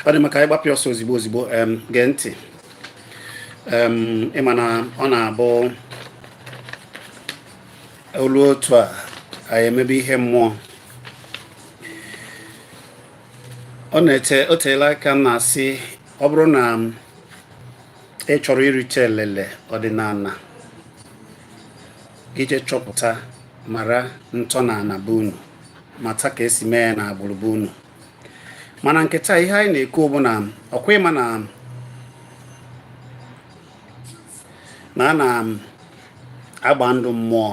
ọ dị maka ịgbapụ ọsọ ozigbo ozigbo gee ntị ị ma na ọ na-abụ olu otu a anyị emebe ihe mmụọ ọ na-ete o teela aka m na-asị ọ bụrụ na ị chọrọ irite elele ọdịnala i je chọpụta mara ntọala be unu mata ka esi mee ya na agbụrụ be unu mana nke taa ihe anyị na-ekwu bụ na ọ kwa ị ma na na a na um, agba ndụ mmụọ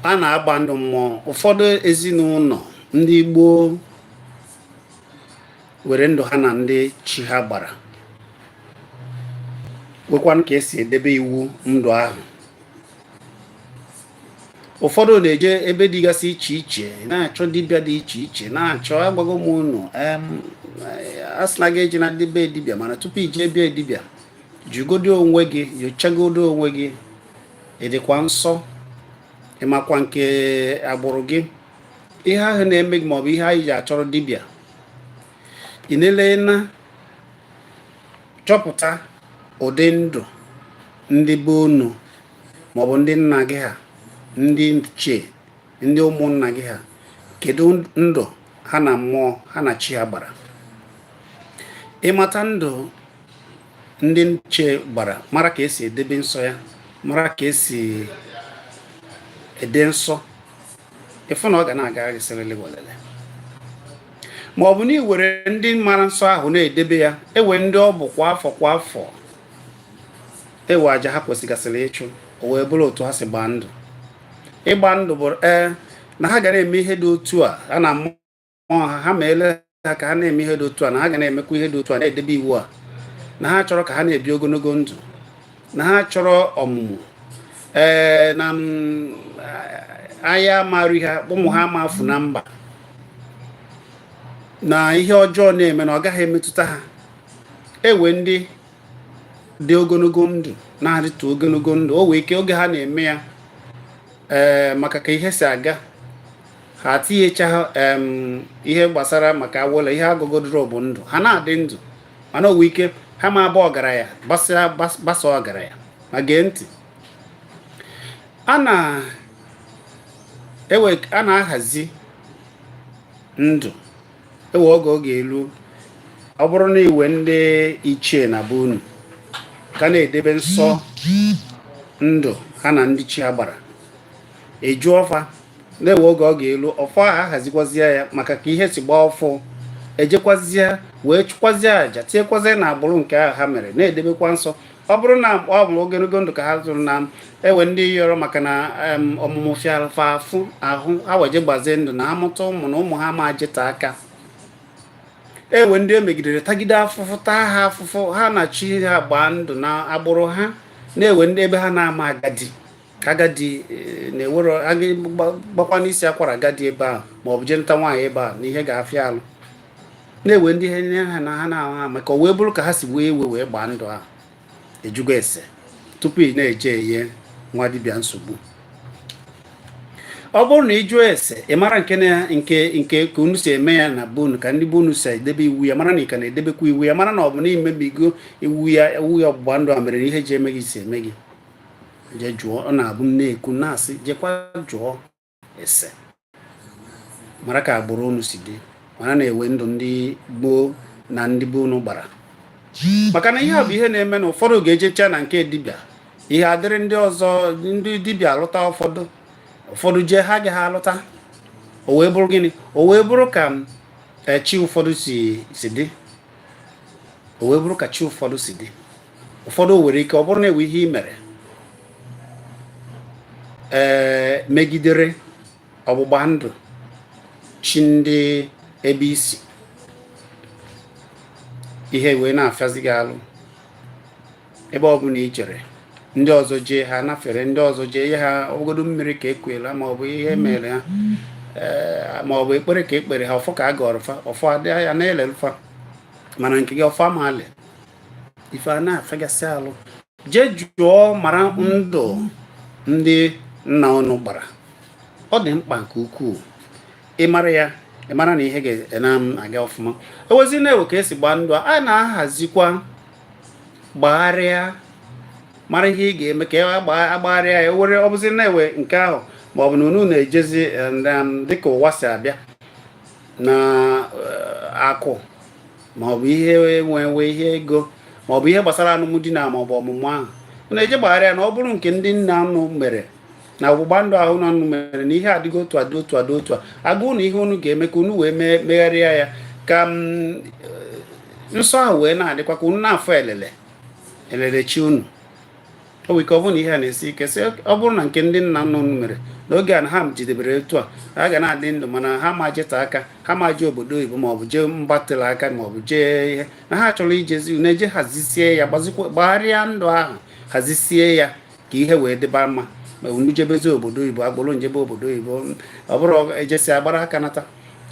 a na-agba ndụ mmụọ ụfọdụ ezinụlọ ndị gboo nwere ndụ ha na ndị chi ha gbara nwekwanụ ka esi edebe iwu ndụ ahụ ụfọdụ na-eje ebe dịgasị iche iche na-achọ dibịa dị iche iche na-achọ agwago m unu a sị na gị ejena be dibịa mana tupu i je be dibịa jụgodo onwe gị nyochagodo onwe gị ị dịkwa nsọ ị makwa nke agbụrụ gị ihe ahụ na-eme gị maọbụ ihe ahụ i ji achọrọ dibịa ị na-ele na chọpụta ụdị ndụ ndị be unu maọbụ ndị nna gị ha ndị ichie ndị ụmụnna gị ha kedu ndụ ha na mmụọ ha na chi ha gbara ị mata ndụ ndị ichie gbara mara ka esi edebe nsọ ya mara ka esi ede nsọ ị fụ na ọ ga na-aga gị sịrịlị welele ma ọ bụ na e nwere ndị mara nsọ ahụ na-edebe ya e nwere ndị ọ bụ kwa afọ kwa afọ e nwee aja ha kwesịgasịrị ịchụ o wee bụrụ otu ha si gbaa ndụ ịgba ndụ bụ ee na ha ga na-eme ihe dị otu a ha na mmụọ ha ha ma ele ha ka ha na-eme ihe dị otu a na ha ga na-emekwa ihe dị otu a na-edebe iwu a na ha chọrọ ka ha na-ebi ogologo ndụ na ha chọrọ ọmụmụ ee na mm, ahụ ama arịa ha ụmụ ha ma efu na mba na ihe ọjọọ na-eme na ọ gaghị emetụta ha ewe ndị dị ogologo ndụ na-adịtụ ogologo ndụ o wee ike oge ha na-eme ya ee eh, maka ka ihe si aga ha tinyecha ihe gbasara maka awụla ihe agọgodoro bụ ndụ ha na-adị ndụ mana o wee ike ha ma aba ọgaranya basaa ọgaranya ma gee ntị a na-ahazi ndụ ewe oge ọ ga-elu ọ bụrụ na iwe ndị ichie na be unu ka na-edebe nsọ ndụ ha na ndị chi ha gbara eji ọfọ a na-ewe oge ọ ga-elu ọfọ a ahazikwazie ya maka ka ihe si gbaa ọfụ ejekwazie wee chụkwazie aja tinyekwazie na agbụrụ nke ahụ ha mere na-edebekwa nsọ ọ bụrụ na ọ bụ ogologo ndụ ka ha zụrụ na ewe ndị yọrọ maka na ọmụmụ fịalụ fa afụ ahụ ha wee jee gbazie ndụ na ha mụta ụmụ na ụmụ ha ma jeta aka ewe ndị e megidere tagide afụfụ taa ha afụfụ ha na chi ha gbaa ndụ na agbụrụ ha na-ewe ndị be ha na-ama agadi ka agadi eh, na-ewere gbakwa n'isi akwara agadi ebe ahụ ma ọ bụ jee nụta nwaanyị be ha na ihe ga-afịa alụ na-ewe ndị ihe nye ha na ha na-ahụ ha maka o wee bụrụ ka ha si wee wee gbaa ndụ ahụ ị jụgo ese tupu ị na-eje enye nwa dibịa nsogbu ọ bụrụ na ị jụọ ese ị mara nke na nke nke ka unu si eme ya na be unu ka ndị be unu si edebe iwu ya mara na ị ka na-edebekwa iwu ya mara na ọ bụ na i mebigo iwu ya iwu ya ọgbụgba ndụ a mere na ihe ji eme gị si eme gị jee jụọ ọ na-abụ m na-ekwu na-asị jekwa jụọ ese mara ka agbụrụ unu si dị mara na-ewe ndụ ndị gboo na ndị be unu gbara maka na ihe a bụ ihe na-eme na ụfọdụ ga-ejecha na nke dibịa ihe adịrị ndị ọzọ ndị dibịa alụta ụfọdụ ụfọdụ jee ha agaghị alụta o wee bụrụ gịnị o wee bụrụ ka eh, chi ụfọdụ si dị o wee bụrụ ka chi ụfọdụ si dị ụfọdụ nwere ike ọ bụrụ na ewe ihe ị mere ee eh, megidere ọgbụgba ndụ chi ndị ebe i si ihe wee na-afịazi gị alụ ebe ọ bụla i jere ndị ọzọ jee ha nafere ndị ọzọ jee ihe ha ogodo mmiri ka ekwela ma ọ bụ ihe mere ha eh, ma ọ bụ ekpere ka ekpere ha ọfọ ka a gọrọ fa ọfọ adị ya na-elelụ fa mana nke gị ọfọ ama ife a na-afịagasị alụ jee jụọ mara ndụ ndị nna unu gbara ọ dị mkpa nke ukwuu ịmara ya ịmara na ihe ga-aga ọfụma ewezi na-ewe ka esi gbaa ndụ a na-ahazikwa gbagharịa mara ihe ị ga-eme ka agbagharịa ya were ọ bụzi na-ewe nke ahụ ma ọ bụ na unu na-ejezi eh, um, dịka ụwa si abịa na eh, akụ maọbụ ihe enwenwe ihe ego maọbụ ihe gbasara alụmdi na maọbụ ọmụmụ ahụ unu eje gbagharịa ya na ọ bụrụ nke ndị nna unu mere na ọgbụgba ndụ ahụ unu mere na ihe adịgo otu a dị otu a dị otu a a gwa unu ihe unu ga-eme ka unu wee megharịa ya ka mm, nsọ ahụ wee na-adịkwa ka unu na-afụ elele elele chi unu o nwere ike ọ bụrụ na ihe a na-esi ike sị ọ bụrụ na nke ndị nna nna unu mere n'oge a na ha jidebere etu a ha ga na-adị ndụ mana ha ma jete aka ha ma jee obodo oyibo maọbụ jee mba tere aka maọbụ jee ihe na ha chọrọ ijezi unu eje hazisie ya gbagharịa ndụ ahụ hazisie ya ka ihe wee dịba mma ma unu jebezi obodo oyibo agbụrụ unu jebe obodo oyibo ọ bụrụ ejesịa agbara aka nata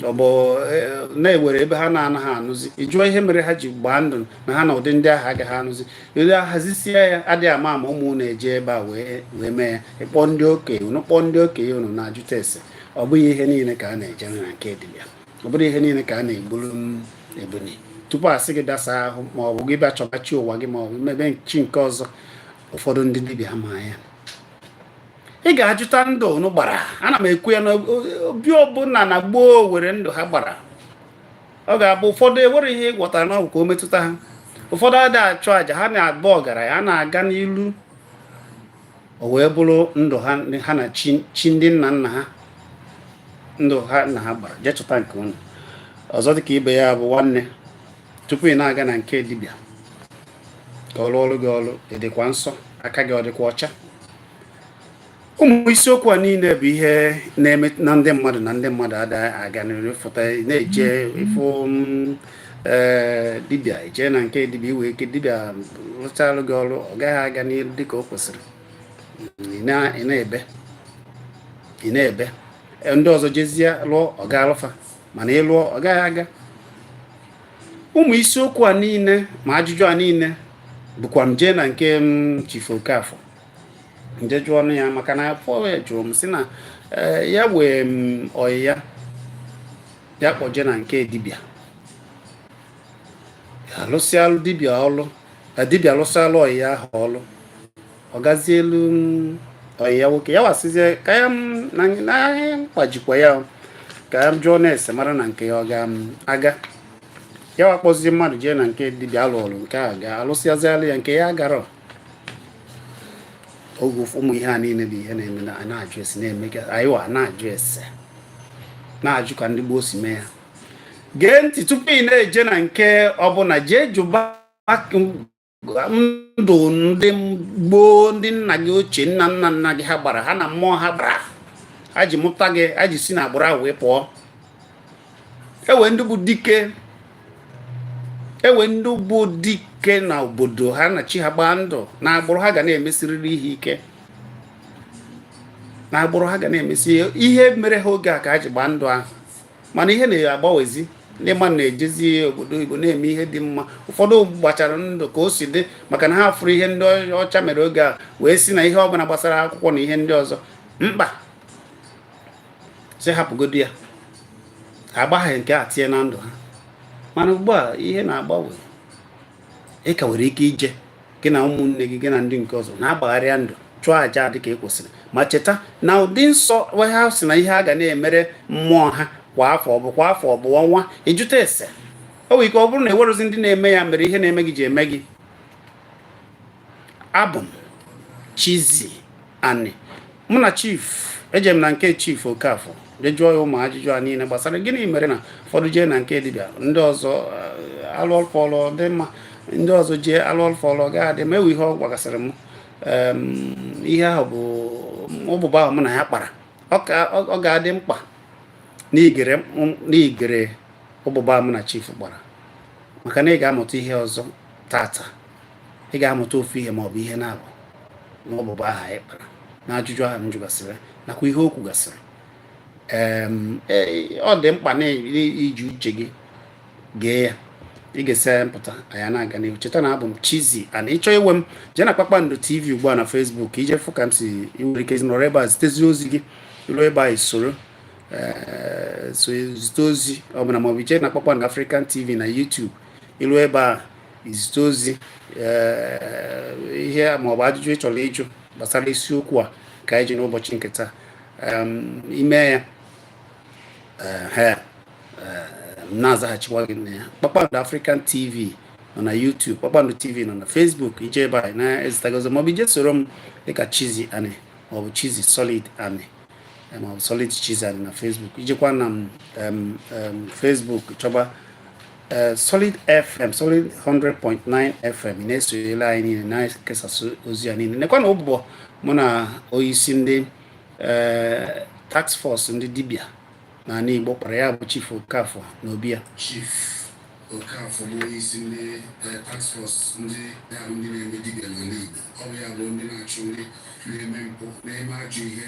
ọ bụ e, na enwere ebe ha na-anaghị anụzi ị jụọ ihe mere ha ji gbaa ndụ na ha na ụdị ndị ahụ agaghị anụzi ele ahazisie ya adịghị ama ama ụmụ unu eje ebe a wee wee mee ya ị kpọọ ndị okenye unu kpọọ ndị okenye unu na-ajụta ese ọ bụghị ihe niile ka a na-eje na nke dibịa ọ bụrọ ihe niile ka a na-egburu mm, ebunu tupu asị gị gaa saa ahụ ma ọ bụ gị bịa chọba chi ụwa gị ma ọ bụ mebe chi nke ọzọ ụfọdụ ndị dibịa ma ya ị ga-ajụta ndụ unu gbara ana m ekwu ya na obi ọbụla na gboo nwere ndụ ha gbara ọ ga-abụ ụfọdụ enwere ihe ị gwọtara na ọgwụ ka o metụta ha ụfọdụ adịghị achụ àjà ha na-abụ ọgaranya ha na-aga n'ilu o wee bụrụ ndụ ha na chi ndị nna nna ha ndụ ha na ha gbara jee chọta nke unu ọzọ dịka ibe ya bụ nwanne tupu ị na-aga na nke dibịa ka ọ rụọrọ gị ọrụ ị dịkwa nsọ aka gị ọ dịkwa ọcha ụmụ isiokwu a niile bụ ihe na-eme na ndị mmadụ na ndị mmadụ ada aga n'iru fụta na-eje ịfụ mm, eh, dibịa eje na nke dibịa enwere ike dibịa rụchalụ gị ọrụ ọ gaghị aga n'iru dịka o kwesịrị ị na-ebe ị na-ebe e, ndị ọzọ jezie lụọ ọ gaalụ fa mana ị lụọ ọ gaghị aga ụmụ isiokwu a niile ma ajụjụ a niile bụkwa m jee na nke mm, Chief Okafor m jee jụọ ọnụ ya maka na afọ ya jụrụ m si na eh, ya nwere mm, ọyị ya ya kpọjee na nke dibịa alụsịalụ dibịa ọlụ eh, dibịa alụsịalụ ọyị ya ahụ ọlụ ọ gazielu mm, ọyị ya nwoke ya wa sịzie ka ya mm, na ahịa mkpajikwa ya ka ya jụọ na-ese mara na nke ya ọ ga-aga ya wa kpọzie mmadụ jee na nke dibịa alụ ọlụ nke a ga-alụsịazịalụ ya nke ya gara oge ụmụ ihe a niile bụ ihe na-eme na na-ajụ ese na-eme ka anyị wa na-ajụ ese na-ajụ ka ndị gboo si mee ya gee ntị tupu ị na-eje na nke ọbụla jee jụba ndụ ndị gboo ndị nna gị ochie nna nna nna gị ha gbara ha na mmụọ ha gbara ha ji mụta gị ha ji si na agbụrụ ahụ wee pụọ e nwe ndị e nwe ndị bụ dike na obodo ha na chi ha gbaa ndụ na agbụrụ ha ga na-emesịrịrị ihe ike na agbụrụ ha ga na-emesịrị ihe mere ha oge a ka ha ji gbaa ndụ ahụ mana ihe na-agbanwezi ndị mmadụ na-ejezi obodo oyibo na-eme ihe dị mma ụfọdụ gbachara ndụ ka o si dị maka na ha fụrụ ihe ndị ọcha mere oge a wee sị na ihe ọbụla gbasara akwụkwọ na ihe ndị ọzọ mkpa sị hapụgodu ya ha agbaghị nke a tinye na ndụ ha mana ugbu a ihe na-agbanwe ị ka nwere ike ije gị na ụmụnne gị gị na ndị nke ọzọ na-agbagharịa ndụ chụọ aja dị ka e kwesịrị ma cheta ụdị nsọ ha sị na ihe a ga na-emere mmụọ ha kwa afọ ọ bụ kwa afọ ọ bụ ọnwa ị jụta ese o nwere ike ọ bụrụ na e nwerozi ndị na-eme ya mere ihe na-eme gị ji eme gị abụ m Chizzy Ani mụ na chief eje m na nke chief Okafor je jụọ ya ụmụ ajụjụ a niile gbasara gịnị mere na ụfọdụ jee na nke dibịa ndị ọzọ eh, a lụọlụ fa ọlụ ọ dị mma ndị ọzọ jee a lụọlụ fa ọlụ ọ gaghị adị mma e nwe ihe ọ gwagasịrị m ihe ahụ bụ ụbụbọ ahụ mụ na ya kpara ọ ga-adị mkpa na i gere ụbụbọ ahụ mụ na chief kpara maka na ị ga-amụta ihe ọzọ tata ị ga-amụta ofu ihe ma ọ bụ ihe naabọ n'ụbụbọ ahụ anyị kpara na ajụjụ ahụ m jụgasịrị nakwa ihe o kwugasịrị e, ọ dị mkpa na i ji uche gị gee ya ị ga-esi na ya mụta anyị na-aga n'ihu cheta na abụ m Chizzy Ani ị chọọ inwe m jee na Kpakpando TV ugbu a na Facebook i je fụ ka m si nwere ike nọrọ ebe a zitezi ozi gị i ruo ebe a soro zite ozi ọbụla maọbụ i je na Kpakpando African TV na YouTube i lu ebe a i zite ozi ihe ma ọ bụ ajụjụ ị chọrọ ịjụ gbasara isiokwu a ka anyị ji n'ụbọchị nke taa i me ya na-azaghachikwa gị na ya kpakpando African TV nọ na YouTube kpakpando TV nọ na Facebook i je ebe anyị na-ezitago ozi maọbụ i je soro m dịka Chizzy Ani maọbụ Chizzy Solid Ani eh, maọbụ Solid Chizzy Ani na Facebook i jekwa na Facebook chọba Eh, Solid FM Solid 100.9 FM na-esonyela anyị niile na-ekesasị ozi a niile nekwanụ ụbụbọ mụ na onyeisi ndị eh, task force ndị dibia na ala Igbo kpara ya bụ Chief Okafor na obi ya Okafor bụ onye isi ndị eh, task force ndị ahụ ndị na-eme dibịa n'ala Igbo ọ bụ ya bụ ndị na-achụ ndị na-eme mpụ na-eme ajọ ihe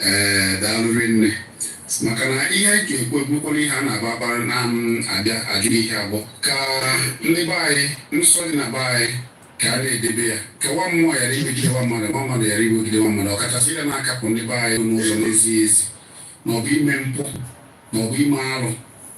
ee daalụ rinne maka na ihe anyị ga-ekwu ebukwala ihe a na-agba agbara na abịa ajụ ihe abụọ ka ndị be anyị nsọ dị na be anyị ka a na-edebe ya ka nwa mmụọ ghara imegide nwa mmadụ nwa mmadụ ghara imegide nwa mmadụ ọkachasị ihe na-akapụ ndị be anyị n'ụzọ na-ezighị ezi maọbụ ime mpụ maọbụ ime arụ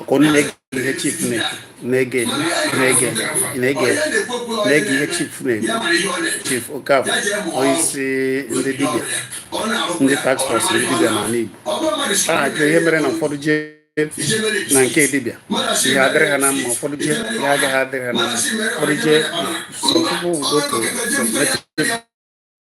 ọkwa unu na-ege ihe chief na-ege na-ege na-ege na-ege ihe chief na-ege chief Okafor onyeisi ndị dibịa ndị task force ndị dibịa n'ala Igbo a na-ajụ ihe mere na ụfọdụ jee na nke dibịa ihe adịrị ha na mma ụfọdụ jee ihe agaghị adịrị ha na mma ụfọdụ jee some people will go to some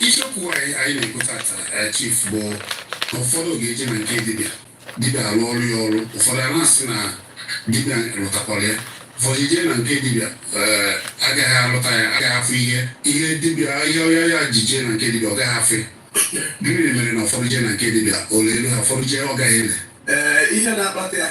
isiokwu anyị anyị na-ekwu tata eh, chief bụ na ụfọdụ ga-eje na nke dibịa dibịa arụọrọ ya ọrụ ụfọdụ a na-asị na dibịa lụtakwara ya ụfọdụ jee na nke dibịa eh, agaghị alụta ya agaghị afụ ihe ihe dibịa ihe ọya ya ji jee na nke dibịa ọ gaghị afụ ya gịnị mere na ụfọdụ jee na nke dibịa o leelu ha ụfọdụ jee ọ gaghị ele ee ihe na-akpata ya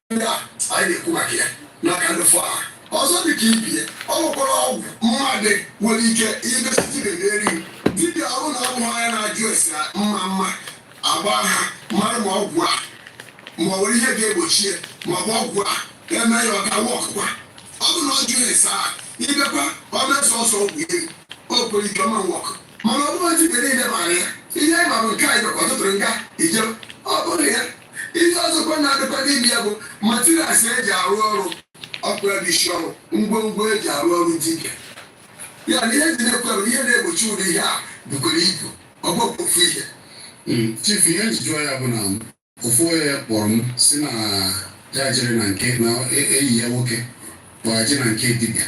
ndị a anyị na-ekwu maka ya n'aka ndị fọ ahụ ọzọ dị ka ibie ọ nwekwara ọgwụ mmadụ nwere ike imesi dibia na-eri dibia ọrụ na ọgwụ anyị na-ajụ ese mma mma agba aha mara ma ọgwụ a ma ọ nwere ihe ga-egbochi ya ma ọ bụ ọgwụ a eme ya ọ gawa ọkụkwa ọ bụ na ọ jụrụ ese a ibekwa ọ na-eso ọsọ ọgwụ ire o kwere ike ọma nwọkụ mana ọ bụrụ dibia niile mara ya ihe anyị mara nke anyị maka ọtụtụrụ nga ije ọ bụrụ ya ihe ọzọkwa na-adịkwa n'ime ya bụ materials eji arụ ọrụ ọkpụra dị isi ọrụ ngwongwo eji arụ ọrụ dibịa na ihe dị na-ekwere ihe na-egbochi ụdị ihe a bukwara ibu ọ bụrọkwa ofu ihe hmm, chief ihe m ji jụọ ya bụ na ofu onye kpọrọ m sị na ya jere na nke na e, enyi ya nwoke kpọ ya jee na nke dibịa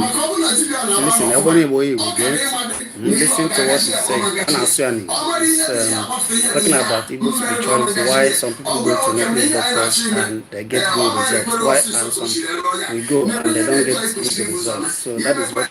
maka ọ bụrụ na dibịa na Listen, ọ bụrụ Igbo Igbo gee listen to what he's saying. A na-asụ ya n'Igbo. Um, talking about Igbo spirituality, why some people go to native doctors and they get good results, why and some will go and they don't get good results. So that is what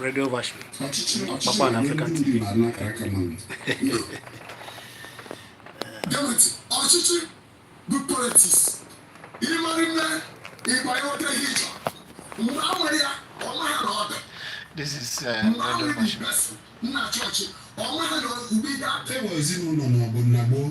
redio Washington ọkpakpa na African TV ọchịchị bụ politiks ịmarị nne ịgba ihe ote ihe ịchọ mgbe a nwere ya ọ maghị na ọ dị This is uh, Radio Bashir. Nna chọọchị, ọ maghị na ugbo ihe a. Ewe ezinụlọ ma ọ bụ nna gboo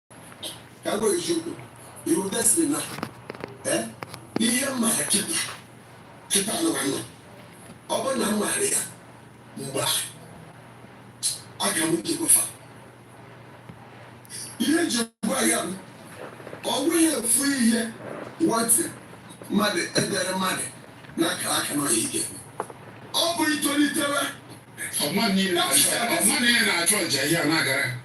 ka m gwa gị eziokwu ọ wụ destiny now eh, ihe m maara kịta kịta nụnwa na ọ bụrụ na m maara ya mgbe ahụ aga m nke gwafa ihe m ji gwa ya bụ ọ bụghị efu ihe nwatị mmadụ edere mmadụ n'akara aka na ọhịa ike ọ bụ itolitewe ọma niile na-achọ ọma niile na-achọ nja ihe a na-agara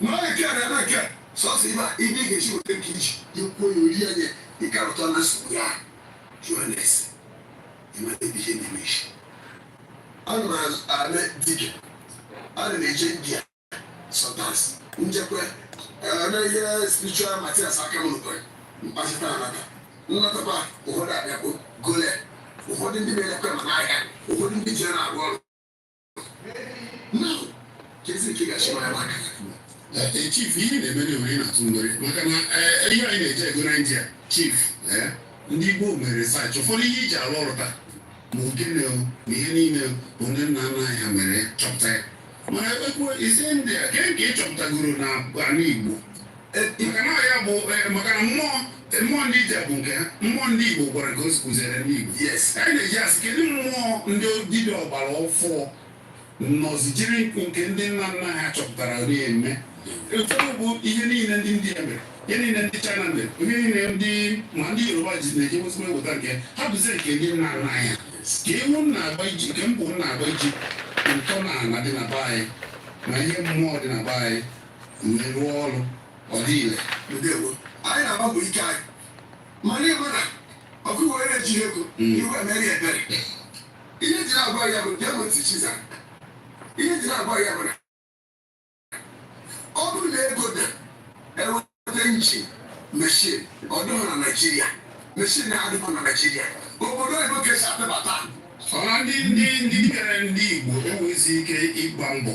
N'oge nke a na-eme nke sọsọ ibe ibe ị ga-eji weta nke iji ikwuo ya ori anya ịkarụta na nsogbu ya jụọ na-ese ịmara ebe ihe na-eme ị sị ana m eme dibịa ana m eje India zụtasị njekwa eme ihe spiritual materials aka m nụkwara mkpachita anata nnatakwa ụfọdụ abịakpo gole ụfọdụ ndị na-elekwa ma n'ahịa ụfọdụ ndị ji na-arụ ọrụ chief ihe na-eme na ewere na-atụ nwere maka na ihe anyị na-eje ego na India chief ndị Igbo mere research ụfọdụ ihe iji arụ ọrụ taa ma ogene na ihe niile bụ ndị nna nna anyị ha mere chọpụta ya mana ekwuzi India kee nke ị chọpụtagoro na ala Igbo maka na ya bụ maka na mmụọ mmụọ ndị India bụ nke ha mmụọ ndị Igbo gwara ka o si kụziere ndị Igbo yes anyị na-eji asị kedu mmụọ ndị dibịa ọgbara ọfụụ nọzi jiri nke ndị nna nna ha chọpụtara na-eme ụfọdụ bụ ihe niile ndị India mere ihe niile ndị China mere ihe niile ndị ma ndị Yoruba ji na-eji ozugbo eweta nke ha bụzi nke ndị nna nna ha kee mgbe unu ga-eji kee mgbe unu ga-eji ntọnala dị na be anyị na ihe mmụọ dị na be anyị wee rụọ ọrụ ọ dị ire ndewo anyị na-agba mbọ ike anyị mana ị ma na ọkụ were na-eji ego Mm. iwe emere ebere ihe jiri agwa ya bụ bịa bụ ntị chiza ihe jiri agwa ya bụ na ọ bụrụ na ego dị eweta engine machine ọ dịghị na Nigeria machine na-adịghị na Nigeria obodo oyibo ka e si atụbata ọha ndị ndị ndị bịara ndị Igbo enweghịzi ike ịgba mbọ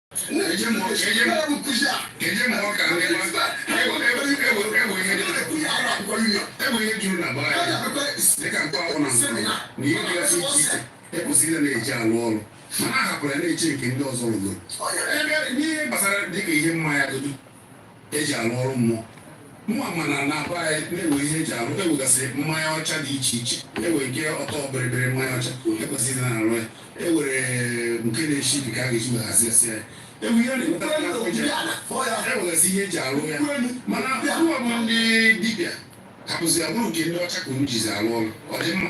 ekwesịrị na-eji alụ ọrụ mana a hapụrụ ya na-eche nke ndị ọzọ rụgoro ebe n'ihe gbasara dịka ihe mmanya godu eji arụ ọrụ mmụọ mụnwa ma na na be anyị na e nwe ihe eji arụ enwegasị mmanya ọcha dị iche iche enwe nke ọtọ bịrịbịrị mmanya ọcha ekwesịrị na-arụ ya enwere nke na-eshi ike ka a ga-eji weghasị asị ya ewu ihe na-ewetara ya afọ eji enwegasị ihe eji arụ ya mana ununwa bụ ndị dibịa hapụzi abụrụ nke ndị ọcha ka unu jizi arụ ọrụ ọ dị mma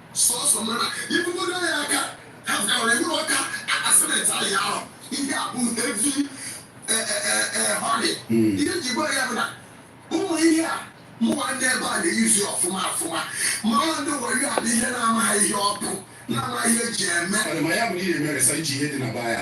Sọsọ mara ibugodo ya aka ha gara ihu ọka akasimenti ahụ ahụ ihe a bụ heavy họrị ihe ji gwa ya bụ na ụmụ ihe a mụwa ndị ebe a na-eyuzi ọfụma ọfụma ma ọ ndị were ya bụ ihe na-amaghị ihe ọ bụ na-amaghị ihe eji eme Ọ dị ma ya bụ na ị na-emeresa iji ihe dị na baa ya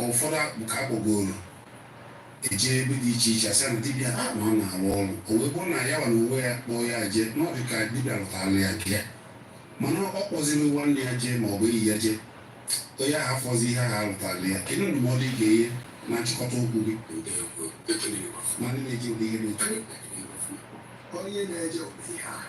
ụfọdụ bụ ka akpọgoro eje ebe dị iche iche asị na dibịa a na ọ na-arụ ọrụ o wee bụrụ na yanwa n'onwe ya kpọọ ya jee na ọ dị ka dibịa lụtara ya nke ya mana ọ kpọziri nwanne ya jee ma ọ bụ enyi ya jee onye ahụ afọzi ihe ahụ alụtara ya kedu ndụmọdụ ị ga-enye na nchịkọta okwu gị ma ndị na-eji ụdị ihe na-eche onye na-eje ụdị ihe ahụ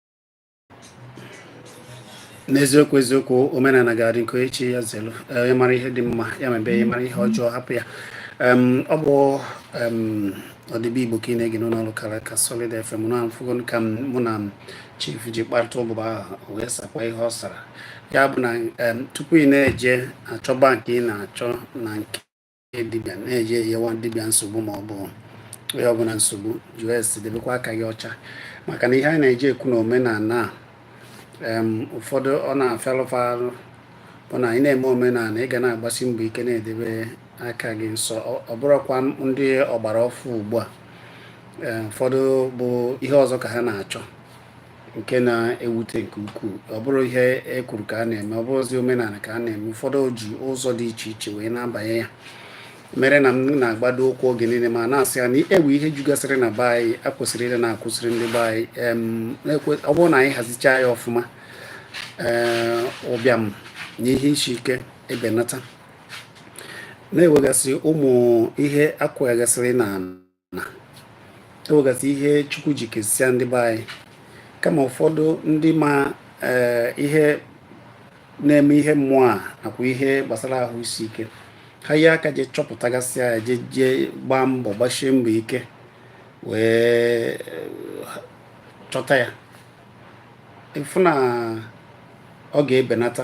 n'eziokwu eziokwu omenala ga-adị nke echi ya zelu onye mara ihe dị mma ya mebe ya mara ihe ọjọọ hapụ ya ọ bụ ọdịbe igbo ka ị na-ege n'ụlọọrụ kara aka Solid FM unu afụgo ka mụ na chief ji kparịta ụbụbọ ahụ wee sakwa ihe ọ sara ya bụ na tupu ị na-eje achọba nke ị na-achọ na nke dibịa na-eje enyewa dibịa nsogbu ma ọ bụ onye ọbụla nsogbu just debekwa aka gị ọcha maka na ihe anyị na-eji ekwu na omenala a ụfọdụ ọ na-afịalụ fa arụ bụ na ị na-eme omenala ị ga na-agbasi mbọ ike na-edebe aka gị nsọ ọ bụrụkwa ndị ọgbara ọfụụ ugbu a ụfọdụ bụ ihe ọzọ ka ha na-achọ nke na-ewute nke ukwuu ọ bụrọ ihe e kwuru ka a na-eme ọ bụrọzi omenala ka a na-eme ụfọdụ ji ụzọ dị iche iche wee na-abanye ya mere na m na-agbado ụkwụ oge niile ma na-asị ya na e nwe ihe jugasịrị na be anyị a kwesịrị ịdị na-akụziri ndị be anyị ọ bụrụ na anyị hazichaa ya ọfụma ee ụbịam na ihe isi ike ebenata na enwegasị ụmụ ihe a kwugasịrị na na enwegasị ihe chukwu ji kesịa ndị be anyị kama ụfọdụ ndị ma eh, ihe na-eme ihe mmụọ a nakwa ihe gbasara ahụ isi ike ha ji aka jee chọpụtagasị ya jee jee gbaa mbọ gbasie mbọ ike wee chọta ya ịfụ na ọ ga-ebenata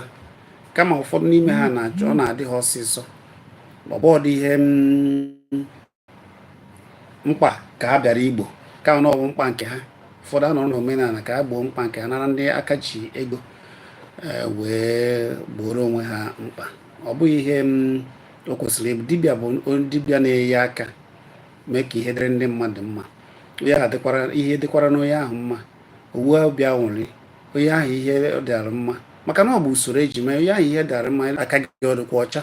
kama ụfọdụ n'ime ha na-achọ ọ na-adị ha ọsịsọ ọ bụrọdụ ihe mm, mkpa ka a bịara igbo kama ọ bụ mkpa nke ha ụfọdụ anọrọ n'omenala ka ha gboo mkpa nke ha nara ndị aka ji ego e, wee gbooro onwe ha mkpa ọ bụghị ihe o kwesịrị ịbụ dibịa bụ dibịa na-enye aka mee ka ihe dịrị ndị mmadụ mma ya dịkwara ihe dịkwara n'onye ahụ mma ọ bụ obi aṅụrị onye ahụ ihe dịara mma maka na ọ bụ usoro eji mee onye ahụ ihe dịara mma aka gị adịkwa ọcha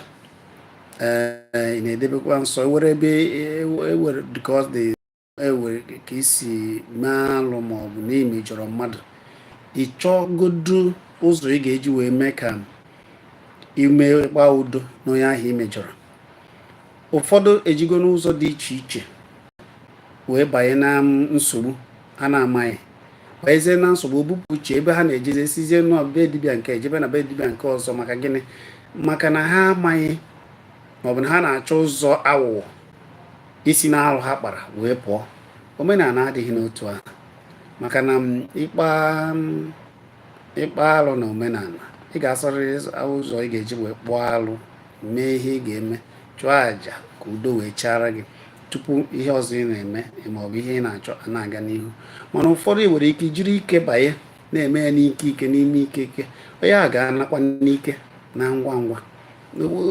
ị na-edebekwa nsọ e nwere ebe e nwere dịka ọ dị e nwere ka i si mee alụ ma ọ bụ na i mejọrọ mmadụ ị chọgodu ụzọ ị ga-eji wee mee ka i mee kpaa udo na onye ahụ i mejọrọ ụfọdụ ejigo n'ụzọ dị iche iche wee banye na nsogbu ha na-amaghị banyezie na nsogbu obupụ uche ebe ha na-ejezi esizie na be dibịa nke a jebe na be dibịa nke ọzọ maka gịnị maka na ha amaghị maọbụ na ha na-achọ ụzọ aghụghọ isi na alụ ha kpara wee pụọ omenala adịghị n'otu ahụ maka na ịkpa ịkpa alụ na omenala ị ga-achọrịrị ụzọ ị ga-eji wee kpụọ alụ mee ihe ị ga-eme chụọ àjà ka udo wee chaara gị tupu ihe ọzọ ị na-eme ma ọ bụ ihe ị na-achọ na-aga n'ihu mana ụfọdụ ị nwere ike jiri ike banye na-eme ya n'ike ike n'ime ike ike onye a ga-anakwa n'ike na ngwa ngwa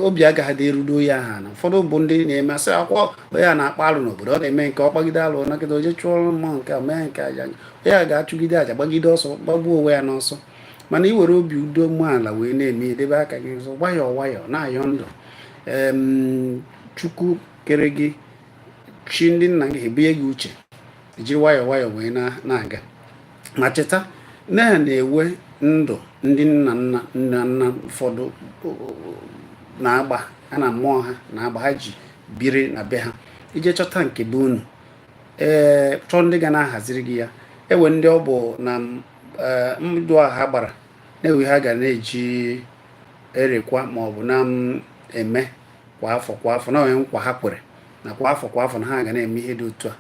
obi agaghị dị erudo onye ahụ ana ụfọdụ bụ ndị na-eme asị akwụkwọ onye a na-akpa alụ n'obodo ọ na-eme nke ọ kpagide alụ na kịta o je chụọrọ mmụọ nke a mee nke aja onye a ga-achụgide aja gbagide ọsọ gbagbuo onwe ya n'ọsọ mana ị were obi udo umeala wee na-eme edebe aka gị nsọ nwayọọ nwayọọ na-ayọ ndụ chukwu kere gị chi ndị nna gị ebunye gị uche i jiri nwayọọ nwayọọ wee na-aga ma cheta na ya na e nwee ndụ ndị nna nna nna nna ụfọdụ na-agba ha na mmụọ ha na-agba ha ji biri na be ha i je chọta nke be unu ee chọọ ndị ga na-ahaziri gị ya e nwee ndị ọ bụ na ndụ a ha gbara na e nwee ha ga na-eji erekwa ma ọ bụ na-eme kwa afọ kwa afọ na e nwee nkwa ha kwere na kwa afọ kwa afọ na ha ga na-eme ihe dị otu a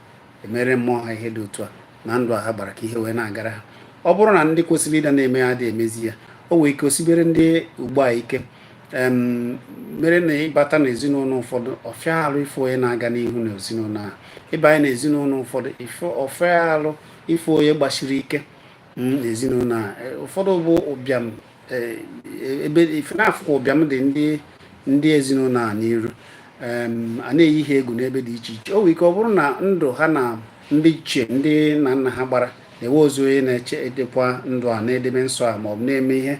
emere mmụọ ha ihe dị otu a na ndụ a ha gbara ka ihe wee na-agara ha ọ bụrụ na ndị kwesịrị ịda na-eme ya adị emezi ya o nwere ike o sibere ndị ugbu a ike mere na ịbata n'ezinụlọ ụfọdụ ọ fịa alụ ịfụ onye na-aga n'ihu n'ezinụlọ ahụ ịbanye n'ezinụlọ ụfọdụ ọ fịa alụ ịfụ onye gbasiri ike n'ezinụlọ ahụ ụfọdụ bụ ụbịam eh, ife na-afụkwa ụbịam dị ndị ndị ezinụlọ a n'iru a na-eyi ha egwu n'ebe dị iche iche o nwere ike ọ bụrụ na ndụ ha na ndị ichie ndị nna nna ha gbara na enwezi onye na-eche edekwa ndụ a na-edebe nsọ a maọbụ na-eme ihe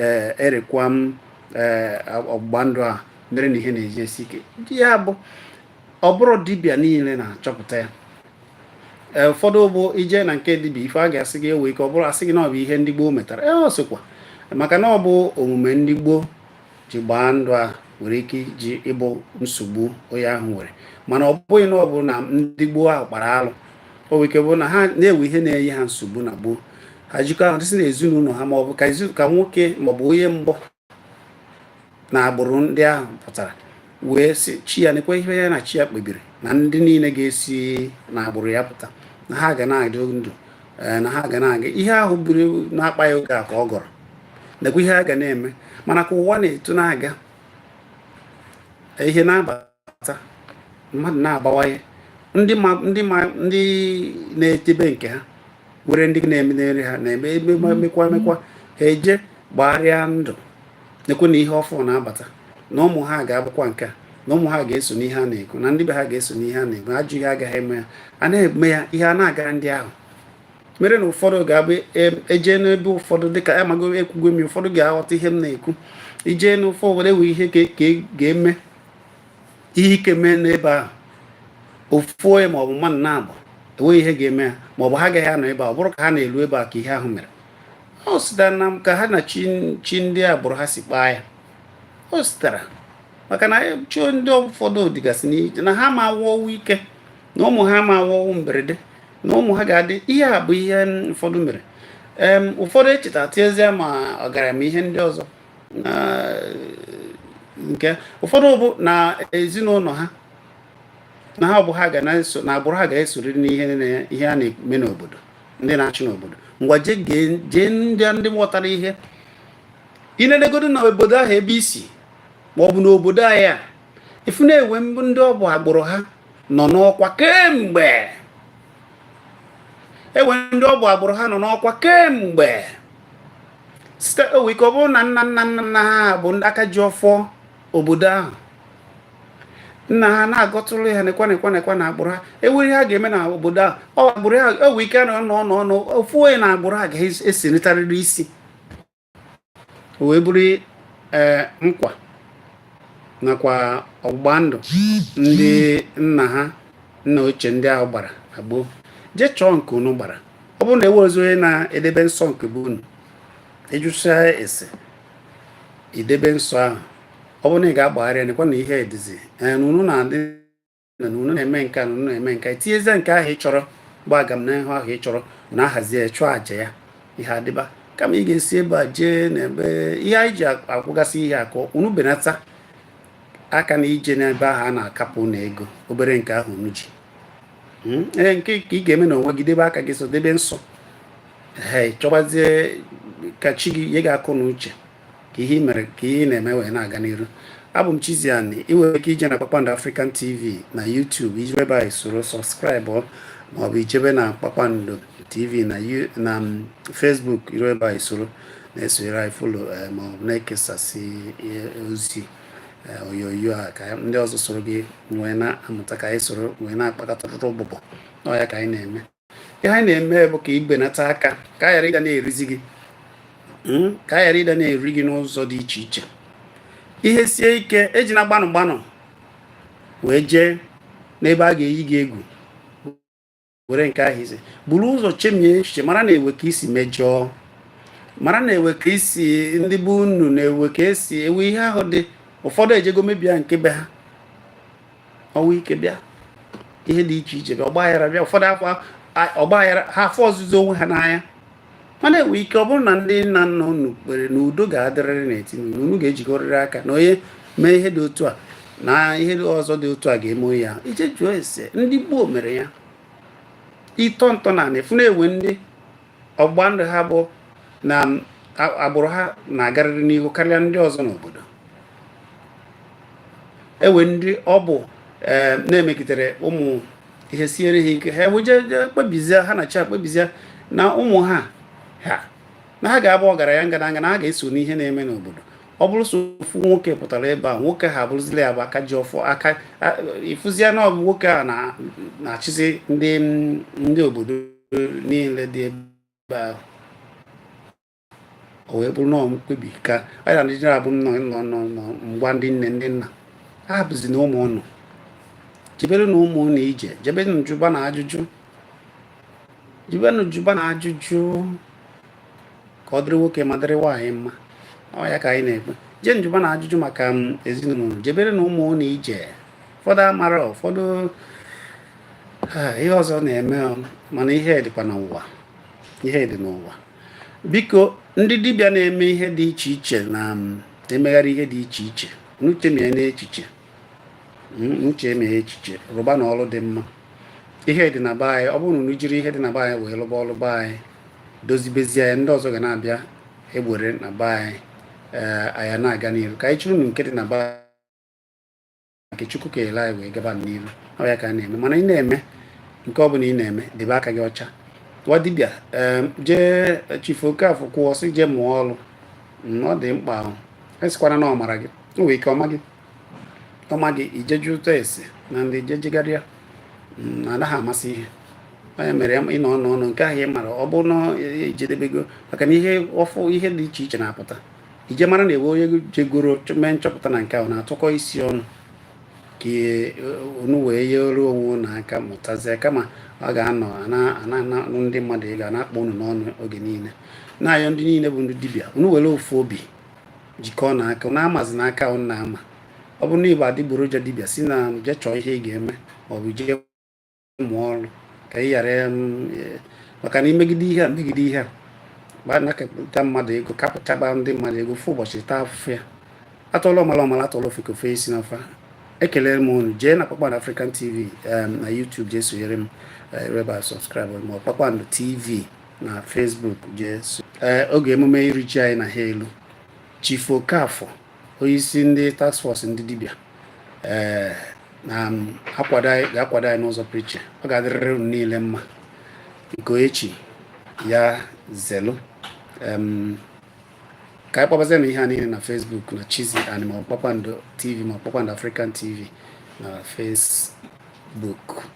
eh, erekwa m eh, ọgbụgba ndụ a mere na ihe na-eji esi ike ndị ya bụ ọ bụrọ dibịa niile na-achọpụta ya e, ụfọdụ bụ i je na nke dibịa ife a ga-asị gị e nwee ike ọ bụrụ a sị gị na ọ bụ ihe ndị gboo metara e ọ sịkwa maka na ọ bụ omume ndị gboo ji gbaa ndụ a nwere ike iji ịbụ nsogbu onye ahụ nwere mana ọ bụghị na ọ bụ na ndị gboo ahụ kpara alụ o nwere ike bụ na ha na-enwe ihe na-enye ha nsogbu na gboo ha jikọ ahụ dịsị na ezinụlọ ha maọbụ ka nwoke maọbụ onye mbụ na agbụrụ ndị ahụ pụtara wee sị chi ya nekwa ihe ya na chi ya kpebiri na ndị niile ga-esi na agbụrụ ya pụta na ha ga na-adị ndụ eh, na ha ga na-aga ihe ahụ buru na-akpa ya oge a ka ọ gọrọ nekwa ihe ha ga na-eme mana ka ụwa na-eto na-aga ihe na-aba na-abata mmadụ na-abawanye ndị ma ndị ma ndị na-edebe nke ha were ndị na-eme nri ha na-eme emekwa emekwa emekwa ha eje gbagharịa ndụ nekwa na ihe ọfụ na-abata na ụmụ ha ga-abụkwa nke a na ụmụ ha ga-eso n'ihe a na-ekwu na ndị be ha ga-eso n'ihe a na-ekwu ajụ ihe agaghị eme ya a na-eme ya ihe a na-agara ndị ahụ mere na ụfọdụ ga-abụ ejee n'ebe ụfọdụ dịka amago ekwugo m ụfọdụ ga-aghọta ihe m na-ekwu ijee n'ụfọ were wee ihe ka e ga-eme ihe ike mee n'ebe ahụ ofu onye maọbụ mmadụ naabọ enweghị ihe ga-eme ya maọbụ ha agaghị anọ ebe a ọ bụrụ ka ha na-elu ebe a ka ihe ahụ mere o sitara na ka ha na chi ndị agbụrụ ha si kpaa ya o sitara maka na chi ndị ụfọdụ dịgasị iche na ha ma anwụ ọnwụ ike na ụmụ ha ma anwụ ọnwụ mberede na ụmụ ha ga-adị ihe a bụ ihe ụfọdụ mere ụfọdụ echeta tinyezie ma ọgaranya ihe ndị ọzọ na nke ụfọdụ bụ na ezinụlọ ha na ha bụ ha ga na-eso na agbụrụ ha ga-esorịrị n'ihe ihe a na-eme n'obodo ndị na-achị n'obodo ngwa jee ndị ndị ghọtara ihe i nenegodu na obodo ahụ ebe i si ma ọ bụ n'obodo anyị a ị fụ na enwe mbụ ndị ọ bụ agbụrụ ha nọ n'ọkwa kemgbe enwe ndị ọ bụ agbụrụ ha nọ n'ọkwa kemgbe site o nwee ike ọ bụrụ na nna nna nna nna ha bụ ndị aka ji ọfọ obodo ahụ nna ha na-agọtụrụ ya nekwa nekwa nekwa na agbụrụ ha enweghị ihe a ga-eme na obodo ahụ ọ agbụrụ ha o nwee ike na ọnụ ọnụ ọnụ ofu onye na agbụrụ ha ga-esenitarịrị isi o wee bụrụ eh, nkwa nakwa ọgbụgba ndụ ndị nna ha nna ochie ndị ahụ gbara na gboo jee chọọ nke unu gbara ọ bụrụ na enwerọzi onye na-edebe nsọ nke be unu ị jụchaa ese i debe nsọ ahụ ọ bụrụ na ị ga-agbagharị ya nekwa na ihe edizi unu na-adị na unu na-eme nke a na unu na-eme nke a tinyezie nke ahụ ị chọrọ bụ agamnihu ahụ ị chọrọ na ahazie chụọ àjà ya ihe adịba kama ị ga-esi ebe a jee n'ebe ihe anyị ji ekwugasị ihe a ka unu benata aka na ije n'ebe ahụ a na-akapụ unu ego obere nke ahụ unu ji hmm? ee nke ka ị ga-eme na onwe gị debe aka gị so debe nsọ ee chọbazie ka chi gị nye gị akọ na uche ka ihe mere ka ihe ị na-eme wee na-aga n'iru abụ m Chiziani ị nwere ike ije na Kpakpando African TV na YouTube i ru ebe ahụ i soro subscribe maọbụ ijebe na Kpakpando TV na um, Facebook i ru ebe ahụ i soro na-esonyere anyị follow eh, ma ọ bụ na-ekesasị ozi eh, onyonyo a ka ndị ọzọ soro gị wee na-amụta ka anyị soro wee na-akpakọta ọtụtụ ụbụbọ na ọ ya ka anyị na-eme ihe anyị na-eme bụ ka e benata aka ka a ghara ịda na-erizi gị hmm? ka a ghara ịda na-eri gị n'ụzọ dị iche iche ihe sie ike ejina gbanụ gbanụ wee jee n'ebe a ga-eyi gị egwu were nke ahụzi buru ụzọ chemie echiche mara na ewe ka i si mejọọ mara na ewe ka i si ndị be unu na ewe ka e si ewe ihe ahụ dị ụfọdụ ejego mebia nke be ha ọnwụ ike bịa ihe dị iche iche bịa ọgbaghara bịa ụfọdụ afọ ọgbaghara ha afụzi onwe ha n'anya mana enwe ike ọ bụrụ na ndị nna nna unu kpere na udo ga-adịrịrị n'etiti unu unu ga-ejikọrịrị aka na onye mee ihe dị otu a na ihe ọzọ dị otu a ga-eme ya i jee jụọ ese ndị gboo mere ya ịtọ ntọ ani ị fụ na enwe ndị ọgba ndụ ha bụ na agbụrụ ha na-agarịrị n'ihu karịa ndị ọzọ n'obodo enwe ndị ọ bụ eh, na-emegitere ụmụ ihe siere ha ike ha ewee jee kpebizie ha na chi akpebizie na ụmụ ha ha na ha ga-abụ ọgaranya ngadanga na ha ga-eso n'ihe na-eme n'obodo ọ bụrụ sọ ofu nwoke pụtara ebe a nwoke a abụrụzila ya bụ aka ji ọfọ aka ị fụzie na ọ bụ nwoke a na-achịzi ndị ndị obodo niile dị ebe ahụ o wee bụrụ na mkpebi ka anyị na Naịjirịa bụ nnọọ ngwa ndị nne ndị nna hapụzina ụmụ ụnụ jeberenụ ụmụ ụnụ ije jebenụ jụbanụ ajụjụ jebenụ jụbanụ ajụjụ ka ọ dịrị nwoke ma dịrị nwaanyị mma ọ ya ka anyị na-ekpe jeenụ jụbanụ ajụjụ maka um, ezinụlọ jeberenụ ụmụ ụnụ ije ụfọdụ amara ụfọdụ ihe ọzọ na-eme um, mana ihe dịkwa n'ụwa ihe dị n'ụwa biko ndị dibịa na-eme ihe dị iche iche na um, emegharị ihe dị iche iche unu chemienụ echiche hmm, unu chemie echiche rụbanụ ọrụ dị mma ihe dị na be anyị ọ bụrụ na unu jiri ihe dị na be anyị wee lụba ọlụ be anyị dozibezie ya ndị ọzọ ga na-abịa egbere na be anyị eh, a ya na-aga n'iru ka anyị chịrị nke dị na be nke Chukwu keele anyị wee gaba n'iru ọ ya ka a na-eme mana ị na-eme nke ọ bụla ị na-eme debe aka gị ọcha nwa dibịa Chief Okafọ kwuo sị jee mụọ ọrụ mm, ọ dị mkpa asịkwana na ọ mara gị o nwere ike ọ ma gị ọ ma gị i jee jụta ese na ndị jejegharịa mm, anaghị amasị ihe onye mere ịnọ ọnụ ọnụ nke ahụ ị mara ọ bụrụ na ejedebego maka na ihe ọfụ ihe dị iche iche na-apụta ije mara na e nwee onye jegoro mee nchọpụta na nke ahụ na-atụkọ isi ọnụ ka e, unu wee yere onwe unu aka mụtazie kama ọ ga-anọ na-anụ ndị mmadụ ị ga na-akpọ unu n'ọnụ oge niile na-ayọ ndị niile bụ ndị dibịa unu were ofu obi jikọọnụ aka na amazi na aka na ama ọ bụrụ na ị bụ adịgboroja dibịa si na jee chọọ ihe ị ga-eme maọbụ jee mụọ ọrụ ka ị ghara e, maka na imegide ihe a megide ihe a gbanakọta mmadụ ego napụchaba ndị mmadụ ego ofu ụbọchị ị taa afụfụ ya atụọla ọmala ọ mala atụọla ofeke o fee isi n'ọfịa ekelere m unu jee na kpakpando african tv na youtube jee sonyere m eh, reba subscribe ma kpakpando tv na facebook jee eh, oge emume iri ji anyị na ha elu Chief Okafor onyeisi ndị task force ndị dibịa ee eh, na-akwado anyị ga-akwado anyị n'ụzọ pụrụ iche ọ ga-adịrịrị unu niile mma nke echi ya zelu ka anyị kpọbazie na ihe a niile na Facebook na Chizzy Ani ma Kpakpando TV ma Kpakpando African TV na Facebook